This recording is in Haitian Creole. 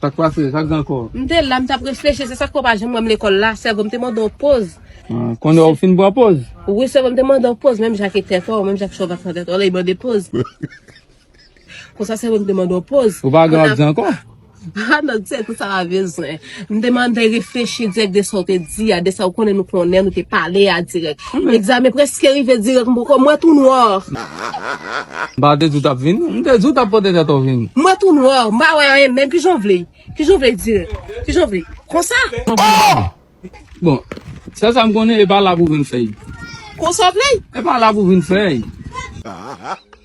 Sak pase? Sak gen anko? M te la m tap reflechi se sak fè w pa janm wè m lekòl la sèvo m te mande w poz. Konnen w fin pran poz? Wi sèvo m te mande w poz menm jan ak tèt w, menm jan ak chòv ak nan tèt w lè y mande poz. Konsa sèvo m te mande w poz. Ou pa gen w ap di anko? Ha non se pou sa w pa bezwen. M te mande reflechi dirèk de sa w te di a, de sa w konnen nou konnen nou te pale a dirèk. Egzamen preske rive direk m poko mwen tou noir. M pa te di w tap vin. M te di w tap pote tèt w vin. Mwen tou noir m pa wè anyen menm kijan w vle kijan w vle direk kijan w vle konsa. Bon sèl sa m konnen epa la pou vin fè. Konsa w vle. Epa la pou vin fè.